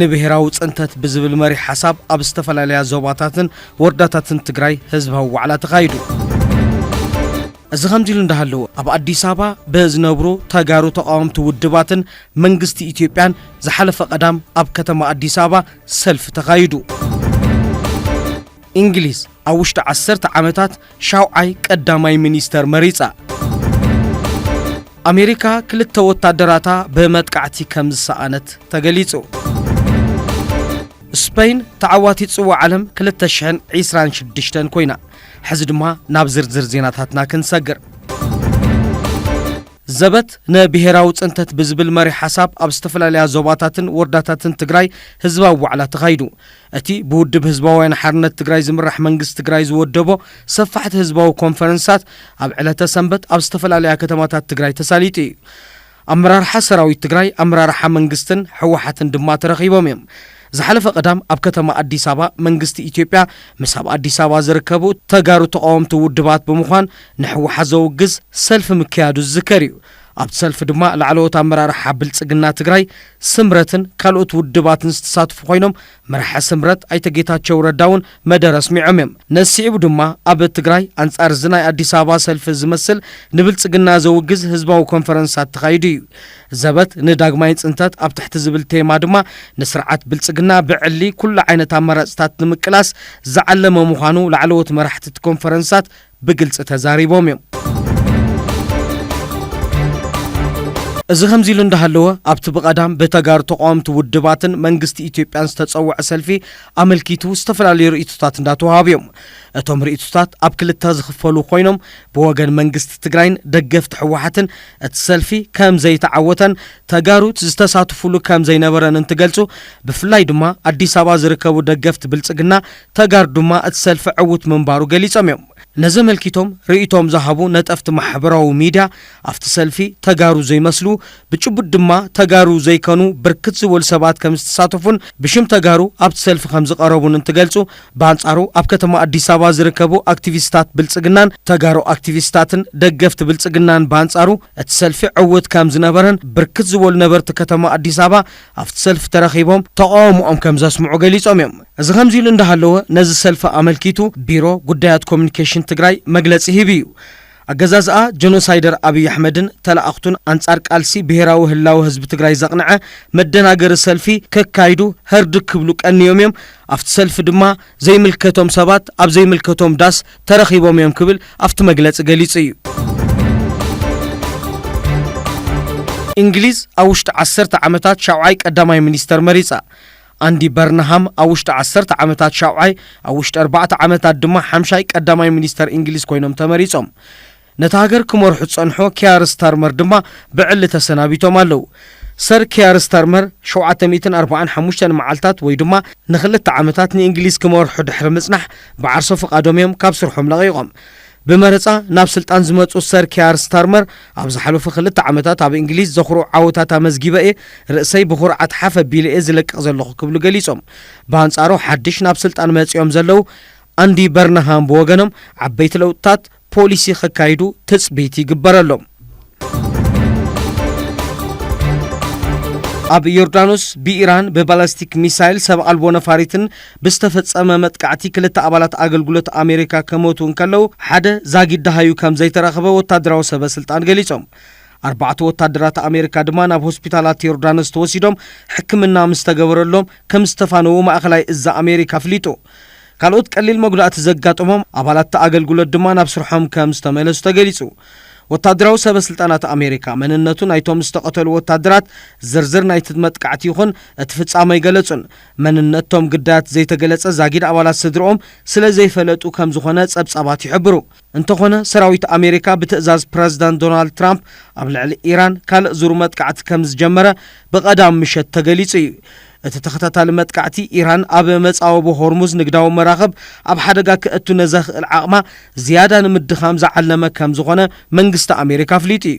ንብሄራዊ ፅንተት ብዝብል መሪሕ ሓሳብ ኣብ ዝተፈላለያ ዞባታትን ወረዳታትን ትግራይ ህዝባዊ ዋዕላ ተኻይዱ። እዚ ከምዚ ኢሉ እንዳሃለወ ኣብ ኣዲስ ኣበባ ብዝነብሩ ተጋሩ ተቃወምቲ ውድባትን መንግስቲ ኢትዮጵያን ዝሓለፈ ቀዳም ኣብ ከተማ ኣዲስ ኣበባ ሰልፊ ተኻይዱ። እንግሊዝ ኣብ ውሽጢ ዓሰርተ ዓመታት ሻውዓይ ቀዳማይ ሚኒስተር መሪጻ። ኣሜሪካ ክልተ ወታደራታ ብመጥቃዕቲ ከም ዝሰኣነት ተገሊጹ። ስፐይን ተዓዋቲት ጽዋዕ ዓለም 2026 ኮይና። ሕዚ ድማ ናብ ዝርዝር ዜናታትና ክንሰግር። ዘበት ንብሔራዊ ፅንተት ብዝብል መሪ ሓሳብ ኣብ ዝተፈላለያ ዞባታትን ወረዳታትን ትግራይ ህዝባዊ ዋዕላ ተኻይዱ። እቲ ብውድብ ህዝባውያን ሓርነት ትግራይ ዝምራሕ መንግስቲ ትግራይ ዝወደቦ ሰፋሕቲ ህዝባዊ ኮንፈረንሳት ኣብ ዕለተ ሰንበት ኣብ ዝተፈላለያ ከተማታት ትግራይ ተሳሊጡ እዩ። ኣመራርሓ ሰራዊት ትግራይ፣ ኣመራርሓ መንግስትን ህወሓትን ድማ ተረኺቦም እዮም። ዝሓለፈ ቀዳም ኣብ ከተማ ኣዲስ ኣበባ መንግስቲ ኢትዮጵያ ምስ ኣብ ኣዲስ ኣበባ ዝርከቡ ተጋሩ ተቓወምቲ ውድባት ብምዃን ንህወሓት ዘውግዝ ሰልፊ ምክያዱ ዝዝከር እዩ። ኣብቲ ሰልፊ ድማ ላዕለዎት ኣመራርሓ ብልፅግና ትግራይ፣ ስምረትን ካልኦት ውድባትን ዝተሳትፉ ኮይኖም መራሒ ስምረት ኣይተ ጌታቸው ረዳ እውን መደረ ኣስሚዖም እዮም። ነዚ ስዒቡ ድማ ኣብ ትግራይ ኣንፃር እዚ ናይ ኣዲስ ኣበባ ሰልፊ ዝመስል ንብልፅግና ዘውግዝ ህዝባዊ ኮንፈረንሳት ተኻይዱ እዩ። ዘበት ንዳግማይ ፅንተት ኣብ ትሕቲ ዝብል ቴማ ድማ ንስርዓት ብልፅግና ብዕሊ ኩሉ ዓይነት ኣማራፅታት ንምቅላስ ዝዓለመ ምዃኑ ላዕለዎት መራሕቲ እቲ ኮንፈረንሳት ብግልፂ ተዛሪቦም እዮም። እዚ ከምዚ ኢሉ እንዳሃለወ ኣብቲ ብቐዳም ብተጋሩ ተቓወምቲ ውድባትን መንግስቲ ኢትዮጵያን ዝተፀወዐ ሰልፊ ኣመልኪቱ ዝተፈላለዩ ርኢቶታት እንዳተውሃቡ እዮም። እቶም ርኢቶታት ኣብ ክልተ ዝኽፈሉ ኮይኖም ብወገን መንግስቲ ትግራይን ደገፍቲ ህወሓትን እቲ ሰልፊ ከምዘይተዓወተን ተጋሩ ዝተሳትፉሉ ከምዘይነበረን እንትገልፁ ብፍላይ ድማ ኣዲስ ኣበባ ዝርከቡ ደገፍቲ ብልፅግና ተጋሩ ድማ እቲ ሰልፊ ዕዉት ምንባሩ ገሊፆም እዮም። ነዚ ኣመልኪቶም ርእይቶኦም ዝሃቡ ነጠፍቲ ማሕበራዊ ሚድያ ኣፍቲ ሰልፊ ተጋሩ ዘይመስሉ ብጭቡጥ ድማ ተጋሩ ዘይከኑ ብርክት ዝበሉ ሰባት ከምዝተሳተፉን ብሽም ተጋሩ ኣብቲ ሰልፊ ከምዝቐረቡን እንትገልፁ ብኣንፃሩ ኣብ ከተማ ኣዲስ ኣበባ ዝርከቡ ኣክቲቪስታት ብልፅግናን ተጋሩ ኣክቲቪስታትን ደገፍቲ ብልፅግናን ብኣንፃሩ እቲ ሰልፊ ዕዉት ከምዝነበረን ብርክት ዝበሉ ነበርቲ ከተማ ኣዲስ ኣበባ ኣብቲ ሰልፊ ተረኺቦም ተቓውሞኦም ከም ዘስምዑ ገሊፆም እዮም። እዚ ከምዚ ኢሉ እንዳሃለወ ነዚ ሰልፊ ኣመልኪቱ ቢሮ ጉዳያት ኮሙኒኬሽን ትግራይ መግለፂ ሂቡ እዩ። ኣገዛዝኣ ጀኖሳይደር ኣብይ ኣሕመድን ተለኣኽቱን ኣንፃር ቃልሲ ብሄራዊ ህላወ ህዝቢ ትግራይ ዘቕንዐ መደናገሪ ሰልፊ ከካይዱ ህርድግ ክብሉ ቀንዮም እዮም። ኣብቲ ሰልፊ ድማ ዘይምልከቶም ሰባት ኣብ ዘይምልከቶም ዳስ ተረኺቦም እዮም ክብል ኣብቲ መግለጺ ገሊጹ እዩ። እንግሊዝ ኣብ ውሽጢ ዓሰርተ ዓመታት ሻውዓይ ቀዳማይ ሚኒስተር መሪጻ። ኣንዲ በርንሃም ኣብ ውሽጢ ዓሰርተ ዓመታት ሻውዓይ፣ ኣብ ውሽጢ ኣርባዕተ ዓመታት ድማ ሓምሻይ ቀዳማይ ሚኒስተር እንግሊዝ ኮይኖም ተመሪጾም። ነታ ሃገር ክመርሑ ዝጸንሑ ኪያር ስታርመር ድማ ብዕሊ ተሰናቢቶም ኣለዉ። ሰር ኪያር ስታርመር ሸውዓተ ሚእትን ኣርብዓን ሓሙሽተን መዓልታት ወይ ድማ ንክልተ ዓመታት ንእንግሊዝ ክመርሑ ድሕሪ ምጽናሕ ብዓርሰ ፍቓዶም እዮም ካብ ስርሖም ለቒቖም። ብመረጻ ናብ ስልጣን ዝመጹ ሰር ኪያር ስታርመር ኣብ ዝሓለፉ ክልተ ዓመታት ኣብ እንግሊዝ ዘኹርዑ ዓወታት ኣመዝጊበ እየ፣ ርእሰይ ብኹርዓት ሓፍ ኣቢለ እየ ዝለቅቕ ዘለኹ ክብሉ ገሊጾም። ብኣንጻሩ ሓድሽ ናብ ስልጣን መጺኦም ዘለዉ ኣንዲ በርንሃም ብወገኖም ዓበይቲ ለውጥታት፣ ፖሊሲ ከካይዱ ትጽቢት ይግበረሎም። ኣብ ዮርዳኖስ ብኢራን ብባላስቲክ ሚሳይል ሰብ ኣልቦ ነፋሪትን ብዝተፈጸመ መጥቃዕቲ ክልተ ኣባላት ኣገልግሎት ኣሜሪካ ከሞቱ እንከለው ሓደ ዛጊድ ደሃዩ ከም ዘይተረኽበ ወታደራዊ ሰበ ስልጣን ገሊጾም። ኣርባዕተ ወታደራት ኣሜሪካ ድማ ናብ ሆስፒታላት ዮርዳኖስ ተወሲዶም ሕክምና ምስ ተገበረሎም ከም ዝተፋነዉ ማእኸላይ እዝ ኣሜሪካ ኣፍሊጡ። ካልኦት ቀሊል መጉዳእቲ ዘጋጠሞም ኣባላት'ቲ ኣገልግሎት ድማ ናብ ስርሖም ከም ዝተመለሱ ተገሊጹ። ወታደራዊ ሰበስልጣናት ኣሜሪካ፣ መንነቱ ናይቶም ዝተቐተሉ ወታደራት ዝርዝር ናይ'ቲ መጥቃዕቲ ይኹን እቲ ፍጻመ ኣይገለጹን። መንነት'ቶም ግዳያት ዘይተገለጸ ዛጊድ ኣባላት ስድርኦም ስለ ዘይፈለጡ ከም ዝኾነ ጸብጻባት ይሕብሩ። እንተኾነ ሰራዊት ኣሜሪካ ብትእዛዝ ፕረዚደንት ዶናልድ ትራምፕ ኣብ ልዕሊ ኢራን ካልእ ዙር መጥቃዕቲ ከም ዝጀመረ ብቐዳም ምሸት ተገሊጹ እዩ። እቲ ተኸታታሊ መጥቃዕቲ ኢራን ኣብ መጻወቦ ሆርሙዝ ንግዳዊ መራኽብ ኣብ ሓደጋ ከእቱ ነዘኽእል ዓቕማ ዝያዳ ንምድኻም ዝዓለመ ከም ዝኾነ መንግስቲ ኣሜሪካ ኣፍሊጡ እዩ።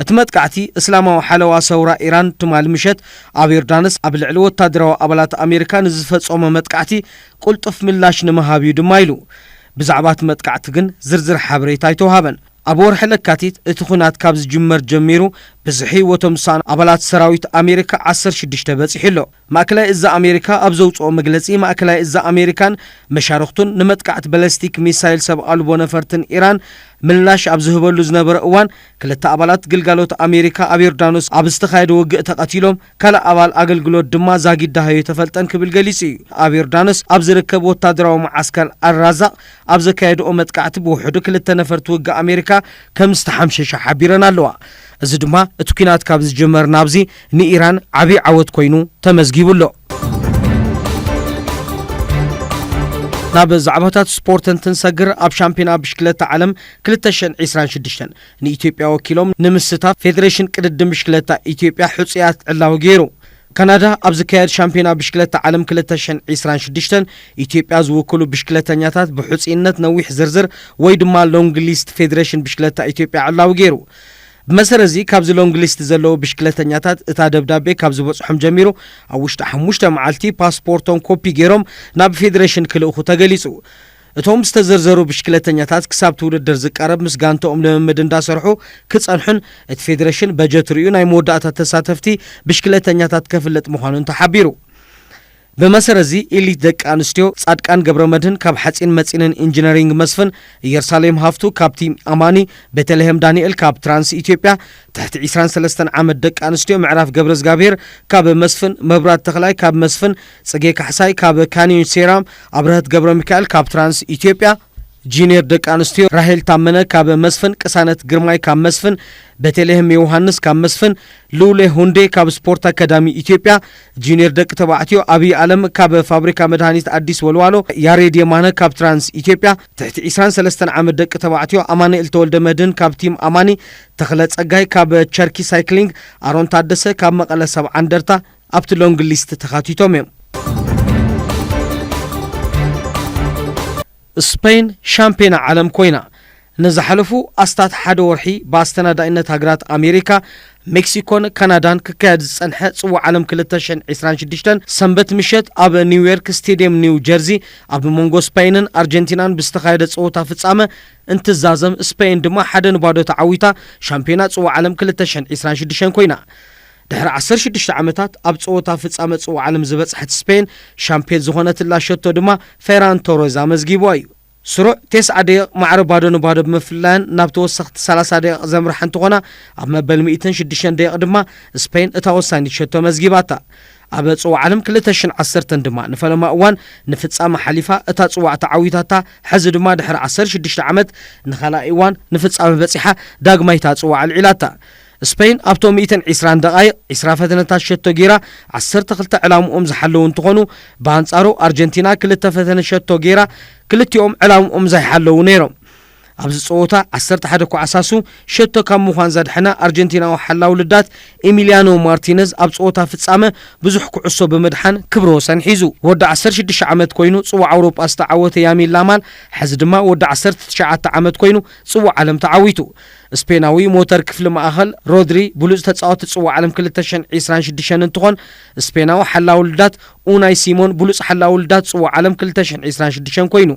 እቲ መጥቃዕቲ እስላማዊ ሓለዋ ሰውራ ኢራን ትማሊ ምሸት ኣብ ዮርዳኖስ ኣብ ልዕሊ ወታደራዊ ኣባላት ኣሜሪካ ንዝፈጸሞ መጥቃዕቲ ቁልጡፍ ምላሽ ንምሃብ እዩ ድማ ኢሉ። ብዛዕባ እቲ መጥቃዕቲ ግን ዝርዝር ሓበሬታ ኣይተውሃበን። ኣብ ወርሒ ለካቲት እቲ ኲናት ካብ ዝጅመር ጀሚሩ ብዝሒ ህይወቶም ዝሰኣኑ ኣባላት ሰራዊት ኣሜሪካ ዓሰርተ ሽዱሽተ በጺሑ ኣሎ። ማእከላይ እዝ ኣሜሪካ ኣብ ዘውጽኦ መግለጺ፣ ማእከላይ እዝ ኣሜሪካን መሻርኽቱን ንመጥቃዕቲ በለስቲክ ሚሳይል ሰብ ኣልቦ ነፈርትን ኢራን ምላሽ ኣብ ዝህበሉ ዝነበረ እዋን ክልተ ኣባላት ግልጋሎት ኣሜሪካ ኣብ ዮርዳኖስ ኣብ ዝተኻየደ ውግእ ተቐቲሎም ካልእ ኣባል ኣገልግሎት ድማ ዛጊድ ደሃዩ ኣይተፈልጠን ክብል ገሊጹ እዩ። ኣብ ዮርዳኖስ ኣብ ዝርከብ ወታደራዊ መዓስከር ኣል-ራዛቕ ኣብ ዘካየድኦ መጥቃዕቲ ብውሕዱ ክልተ ነፈርቲ ውግእ ኣሜሪካ ከም ዝተሓምሸሻ ሓቢረን ኣለዋ። እዚ ድማ እቲ ኲናት ካብ ዝጅመር ናብዚ ንኢራን ዓብዪ ዓወት ኮይኑ ተመዝጊቡ ኣሎ። ናብ ዛዕባታት ስፖርት እንትንሰግር ኣብ ሻምፕዮና ብሽክለታ ዓለም ክልተ ሽሕን ዒስራን ሽዱሽተን ንኢትዮጵያ ወኪሎም ንምስታፍ ፌደሬሽን ቅድድም ብሽክለታ ኢትዮጵያ ሕፁያት ዕላዊ ገይሩ። ካናዳ ኣብ ዝካየድ ሻምፒዮና ብሽክለታ ዓለም ክልተ ሽሕን ዒስራን ሽዱሽተን ኢትዮጵያ ዝውክሉ ብሽክለተኛታት ብሕፁይነት ነዊሕ ዝርዝር ወይ ድማ ሎንግ ሊስት ፌደሬሽን ብሽክለታ ኢትዮጵያ ዕላዊ ገይሩ። ብመሰረት እዚ ካብዚ ሎንግ ሊስት ዘለዉ ብሽክለተኛታት እታ ደብዳቤ ካብ ዝበፅሖም ጀሚሩ ኣብ ውሽጢ ሓሙሽተ መዓልቲ ፓስፖርቶም ኮፒ ገይሮም ናብ ፌደሬሽን ክልእኹ ተገሊፁ። እቶም ዝተዘርዘሩ ብሽክለተኛታት ክሳብቲ ውድድር ዝቃረብ ምስ ጋንተኦም ልምምድ እንዳሰርሑ ክፀንሑን እቲ ፌዴሬሽን በጀት ሪኡ ናይ መወዳእታ ተሳተፍቲ ብሽክለተኛታት ከፍልጥ ምዃኑን ተሓቢሩ። ብመሰረት እዚ ኢሊት ደቂ ኣንስትዮ ፃድቃን ገብረመድህን ካብ ሓፂን መፂንን ኢንጅነሪንግ መስፍን፣ እየርሳሌም ሃፍቱ ካብ ቲም ኣማኒ፣ ቤተልሄም ዳኒኤል ካብ ትራንስ ኢትዮጵያ ትሕቲ ዕስራን ሰለስተን ዓመት ደቂ ኣንስትዮ ምዕራፍ ገብረዝጋብሄር ካብ መስፍን፣ መብራት ተኽላይ ካብ መስፍን፣ ጽጌ ካሕሳይ ካብ ካኒዮን ሴራም፣ ኣብረሀት ገብረሚካኤል ካብ ትራንስ ኢትዮጵያ፣ ጂንየር ደቂ ኣንስትዮ ራሄል ታመነ ካብ መስፍን፣ ቅሳነት ግርማይ ካብ መስፍን፣ ቤተልሔም ዮውሃንስ ካብ መስፍን፣ ልውሌ ሁንዴ ካብ ስፖርት ኣካዳሚ ኢትዮጵያ፣ ጂንየር ደቂ ተባዕትዮ ኣብይ ኣለም ካብ ፋብሪካ መድሃኒት ኣዲስ ወልዋሎ፣ ያሬድ የማነ ካብ ትራንስ ኢትዮጵያ፣ ትሕቲ ዒስራን ሰለስተን ዓመት ደቂ ተባዕትዮ ኣማንኤል ተወልደ መድህን ካብ ቲም ኣማኒ፣ ተኽለ ጸጋይ ካብ ቸርኪ ሳይክሊንግ፣ ኣሮን ታደሰ ካብ መቐለ ሰብዓ እንደርታ፣ ኣብቲ ሎንግ ሊስት ተኻቲቶም እዮም። ስፐይን ሻምፕዮና ዓለም ኮይና ንዝሓለፉ ኣስታት ሓደ ወርሒ ብኣስተናዳኢነት ሃገራት ኣሜሪካ፣ ሜክሲኮን ካናዳን ክካየድ ዝጸንሐ ጽዋዕ ዓለም ክልተ ሽሕን ዕስራን ሽዱሽተን ሰንበት ምሸት ኣብ ኒውዮርክ ስቴድየም ኒው ጀርዚ ኣብ መንጎ ስፐይንን ኣርጀንቲናን ብዝተኻየደ ጸወታ ፍጻመ እንትዛዘም ስፐይን ድማ ሓደ ንባዶ ተዓዊታ ሻምፕዮና ጽዋዕ ዓለም ክልተ ሽሕን ዕስራን ሽዱሽተን ኮይና ድሕሪ ዓሰርተ ሽዱሽተ ዓመታት ኣብ ጸወታ ፍጻመ ጽዋዕ ዓለም ዝበጽሐት ስፔን ሻምፕዮን ዝኾነትላ ሸቶ ድማ ፌራን ቶረዝ ኣመዝጊቡዋ እዩ። ስሩዕ ቴስዓ ደቂቕ ማዕረ ባዶ ንባዶ ብምፍላየን ናብ ተወሰኽቲ ሰላሳ ደቂቕ ዘምርሓ እንትኾና፣ ኣብ መበል ሚእትን ሽዱሽተን ደቂቕ ድማ ስፔን እታ ወሳኒት ሸቶ መዝጊባታ። ኣብ ጽዋዕ ዓለም ክልተ ሽሕን ዓሰርተን ድማ ንፈለማ እዋን ንፍጻመ ሓሊፋ እታ ጽዋዕ ተዓዊታታ፣ ሕዚ ድማ ድሕሪ ዓሰርተ ሽዱሽተ ዓመት ንኻልኣይ እዋን ንፍጻመ በጺሓ ዳግማይ እታ ጽዋዕ ኣልዒላታ። ስፐይን ኣብቶም ሚእትን ዒስራን ደቓይቕ ዒስራ ፈተነታት ሸቶ ገይራ ዓሰርተ ክልተ ዕላምኦም ዝሓለዉ እንትኾኑ፣ ብኣንፃሩ ኣርጀንቲና ክልተ ፈተነ ሸቶ ገይራ ክልቲኦም ዕላምኦም ዘይሓለዉ ነይሮም። ኣብዚ ፀወታ ዓሰርተ ሓደ ኳዕሳሱ ሸቶ ካብ ምዃን ዘድሐነ ኣርጀንቲናዊ ሓላዊ ልዳት ኢሚልያኖ ማርቲነዝ ኣብ ፀወታ ፍፃመ ብዙሕ ኩዕሶ ብምድሓን ክብረ ወሰን ሒዙ። ወዲ ዓሰርተ ሽዱሽተ ዓመት ኮይኑ ፅዋዕ ኣውሮጳ ዝተዓወተ ያሚል ላማል ሐዚ ድማ ወዲ ዓሰርተ ትሽዓተ ዓመት ኮይኑ ፅዋዕ ዓለም ተዓዊቱ። ስፔናዊ ሞተር ክፍሊ ማእኸል፣ ሮድሪ ብሉፅ ተፃወቲ ፅዋዕ ዓለም ክልተ ሽሕን ዒስራን ሽዱሽተን እንትኾን፣ ስፔናዊ ሓላዊ ልዳት ኡናይ ሲሞን ብሉፅ ሓላዊ ልዳት ፅዋዕ ዓለም ክልተ ሽሕን ዒስራን ሽዱሽተን ኮይኑ።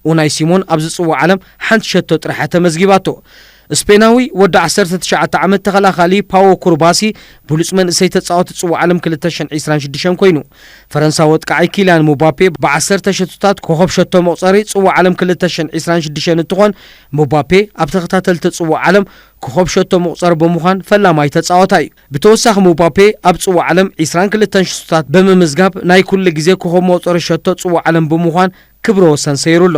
ኡናይ ሲሞን ኣብዚ ፅዋዕ ዓለም ሓንቲ ሸቶ ጥራሕ እያ ተመዝጊባቶ። ስፔናዊ ወዲ ዓሰርተ ትሽዓተ ዓመት ተኸላኻሊ ፓዎ ኩርባሲ ብሉፅ መንእሰይ ተፃወቲ ፅዋዕ ዓለም ክልተ ሽሕን ዒስራን ሽዱሽተን ኮይኑ። ፈረንሳዊ ኣጥቃዓይ ኪልያን ሙባፔ ብዓሰርተ ሸቶታት ኮኾብ ሸቶ መቑፀሪ ፅዋዕ ዓለም ክልተ ሽሕን ዒስራን ሽዱሽተን እንትኾን፣ ምባፔ ኣብ ተኸታተልቲ ጽዋእ ዓለም ኮኾብ ሸቶ መቑጸሪ ብምዃን ፈላማይ ተጻዋታይ እዩ። ብተወሳኺ ምባፔ ኣብ ጽዋእ ዓለም ዕስራን ክልተን ሽቶታት ብምምዝጋብ ናይ ኩሉ ግዜ ኮኾብ መቑጸሪ ሸቶ ጽዋእ ዓለም ብምዃን ክብረ ወሰን ሰይሩ ኣሎ።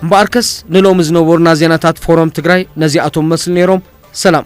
እምበኣርከስ ንሎሚ ዝነበሩና ዜናታት ፎረም ትግራይ ነዚኣቶም መስል ነይሮም። ሰላም።